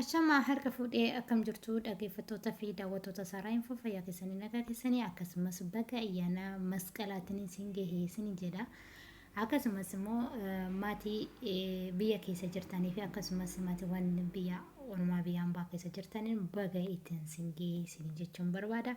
Ashamaa harka fuudhee akkam jirtuu dhageeffattoota fi daawwattoota Saaraa Info fayyaa keessanii nagaa keessanii akkasumas baga ayyaana masqalaatiin isin gahee isin jedha akkasumas immoo maatii biyya keessa jirtanii fi akkasumas maatiiwwan biyya ormaa biyya ambaa keessa jirtaniin baga ittiin isin gahee isin jechuun barbaada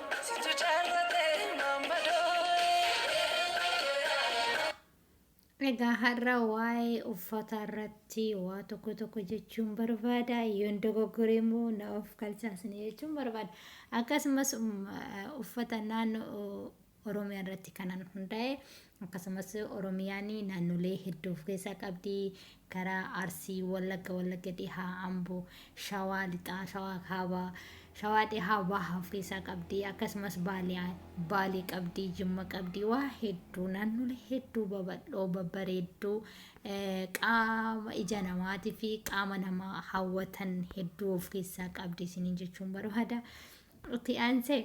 Situ jaallate maammadoo. Egaa har'a waa'ee uffataa irratti waa tokko tokko jechuun barbaada. Yoon dogoggore immoo na of kalchaa isin jechuun barbaada. Akkasumas um, eh, uffata naannoo Oromiyaa irratti kanan hundaa'e Akkasumas Oromiyaan naannolee hedduu of keessaa qabdi. Karaa Arsii, Wallagga, Wallagga Dhihaa, Amboo, Shawaa Lixaa, Shawaa Kaabaa, Shawaa Dhihaa Bahaa of keessaa qabdi. Akkasumas Baalee, Baalee qabdi, Jimma qabdi. Waa hedduu naannolee hedduu babal'oo babbareedduu eh, qaama ija namaatii fi qaama namaa hawwatan hedduu of keessaa qabdi isiniin jechuun barbaada. Itti aansee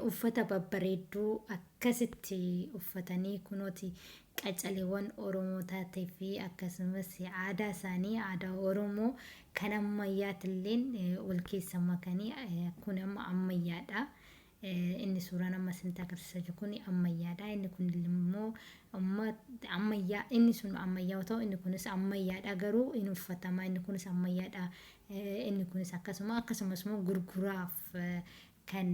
uffata babbareedduu akkasitti uffatanii kunooti qacaleewwan Oromoo taatee fi akkasumas aadaa isaanii aadaa Oromoo kan ammayyaatilleen wal keessa makanii kun amma ammayyaadha. Inni suuraan amma isinitti agarsiisaa jiru kun ammayyaadha. Inni kun immoo ammayyaa inni sun ammayyaa yoo ta'u inni kunis ammayyaadha garuu hin uffatama inni kunis ammayyaadha Inni kunis akkasuma akkasumas immoo gurguraaf kan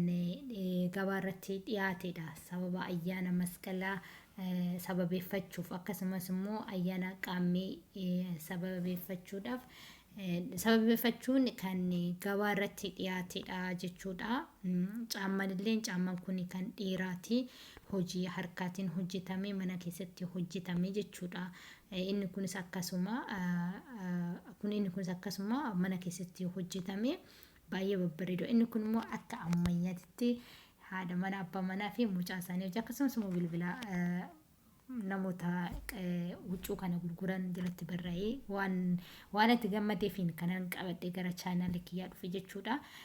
gabaa irratti dhiyaatedha. Sababa ayyaana masqalaa sababeeffachuuf akkasumas immoo ayyaana qaammee sababeeffachuudhaaf sababeeffachuun kan gabaa irratti dhiyaatedha jechuudha. Caamman illee caamman kun kan dhiiraati. Hojii harkaatiin hojjetame mana keessatti hojjetame jechuudha. Inni kunis akkasuma kun inni kunis akkasuma mana keessatti hojjetame baay'ee babbareedu. Inni kun immoo akka ammayyaatitti haadha mana abbaa manaa fi mucaa isaanii hojii akkasumas immoo bilbila namoota huccuu kana gurguran jalatti barraa'ee waan waan itti gammadeefiin kanan qabadhe gara chaanaalii kiyyaa dhufe jechuudha.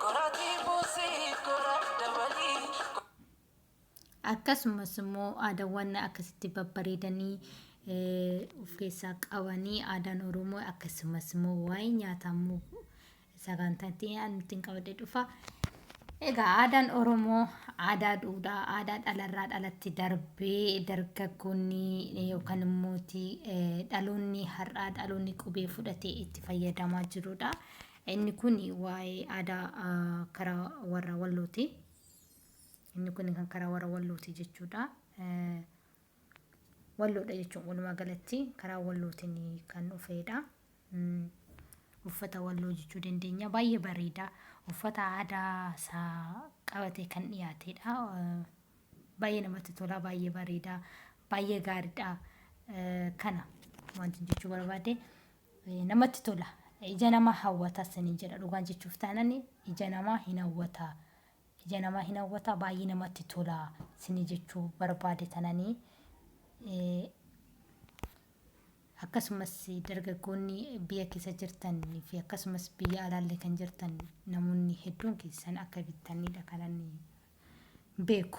Goratii buusii gora dabalii. Akkasumas immoo aadaawwan akkasitti babbareedanii of keessaa qabanii aadaan Oromoo akkasumas immoo waa'ee nyaataa immoo sagantaan itti aanu ittiin qabadhee dhufa. Egaa aadaan Oromoo aadaa duudhaa aadaa dhalarraa dhalatti darbee dargaggoonni yookaan immoo dhaloonni har'aa dhaloonni qubee fudhatee itti fayyadamaa jirudha. Inni kun waa'ee aadaa karaa warra Wallooti. Inni kun kan karaa warra Wallooti jechuudha. Walloodha jechuun walumaa galatti karaa Wallootiin kan dhufeedha. Uffata Walloo jechuu dandeenya. Baay'ee bareeda. Uffata aadaa isaa qabatee kan dhiyaateedha. Baay'ee namatti tola, baay'ee bareeda, baay'ee gaariidha. Kana wanti jechuu barbaade namatti tola ija namaa hawwata sinin jedha dhugaan jechuuf taanan ija namaa hin hawwata ija namaa hin hawwata baay'ee namatti tola sinin jechuu barbaade tananii akkasumas dargaggoonni biyya keessa jirtan fi akkasumas biyya alaallee kan jirtan namoonni hedduun keessan akka bittanidha kanan beeku.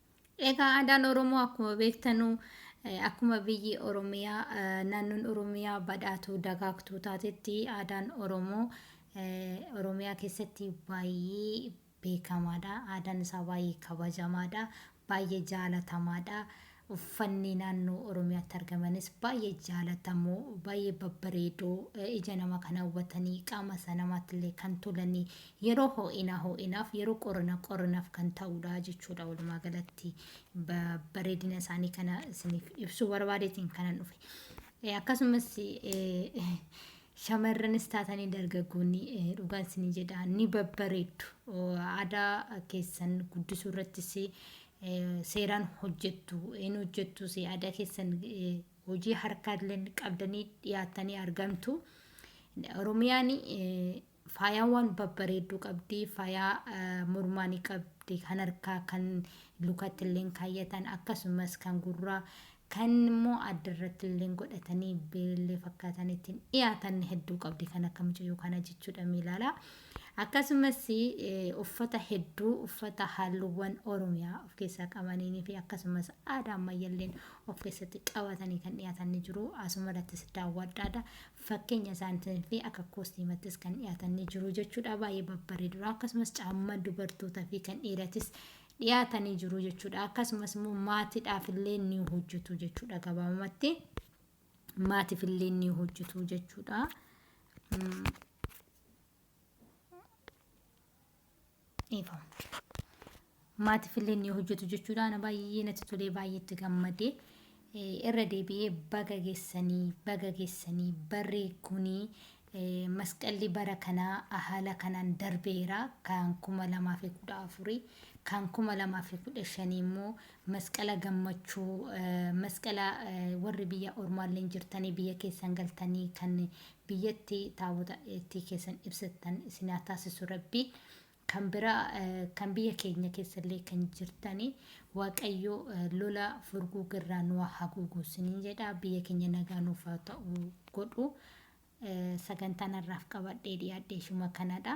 Egaa aadaan Oromoo akkuma beektanu akkuma biyyi Oromiyaa naannoon Oromiyaa badhaatuu dagaagtuu taatetti aadaan Oromoo Oromiyaa keessatti baay'ee beekamaadha. Aadaan isaa baay'ee kabajamaadha. Baay'ee jaalatamaadha. Uffanni naannoo Oromiyaatti argamanis baay'ee jaalatamoo, baay'ee babbareedoo, ija nama kan hawwatanii, qaama isa namaattillee kan tolanii Yeroo hoo'inaa hoo'inaaf, yeroo qorranaa qorranaaf kan ta'uudha jechuudha. Walumaa galatti bareedina isaanii kana isiniif ibsuu barbaadeetiin kanan dhufe. Akkasumas shamarranis taatanii dargaggoonni dhugaan isinii jedha ni babbareeddu. Aadaa keessan guddisuu irrattis seeraan hojjettu. Inni hojjettus aadaa keessan hojii harkaa qabdanii dhiyaattanii argamtu. Oromiyaan Faayaan waan babbareedduu qabdi. Faayaa mormaa ni qabdi, kan harkaa, kan lukatti illeen kaayyatan, akkasumas kan gurraa, kan immoo adda irratti illeen godhatanii birillee fakkaatan ittiin dhiyaatan hedduu qabdi kan akka mucayyoo kana jechuudha mee ilaala. Akkasumas eh, uffata hedduu uffata halluuwwan Oromiyaa of keessaa qabaniinii fi akkasumas aadaa ammayyaalleen of keessatti qabatanii kan dhiyaatan ni jiru. Asuma irrattis daawwadhaadha. Fakkeenya isaaniitiin fi akka koostiimattis kan dhiyaatan ni jiru jechuudha. Baay'ee babbareedudha. Akkasumas caamma dubartootaa fi kan dhiiratis dhiyaatanii jiru jechuudha. Akkasumas immoo maatiidhaaf illee ni hojjetu jechuudha gabaabumatti. Maatiif illee ni hojjetu jechuudha. dhiifama. Maatiif illee ni hojjetu jechuudha. Ana baay'ee natti tolee baay'eetti gammadee irra deebi'ee baga geessanii baga geessanii barri kunii masqalli bara kanaa haala kanaan darbeera kan kuma lamaa fi kudha afurii kan kuma lamaa fi kudha shanii immoo masqala gammachuu masqala warri biyya ormaallee jirtanii biyya keessan galtanii kan biyyatti taabota itti keessan ibsattan isin haa taasisu rabbi kan biraa kan biyya keenya keessallee kan jirtani waaqayyo lola furguu girraa nu haa haguugu isiniin jedha biyya keenya nagaa nuuf haa ta'u godhu sagantaan har'aaf qabadhee dhiyaadhee shuma kanadha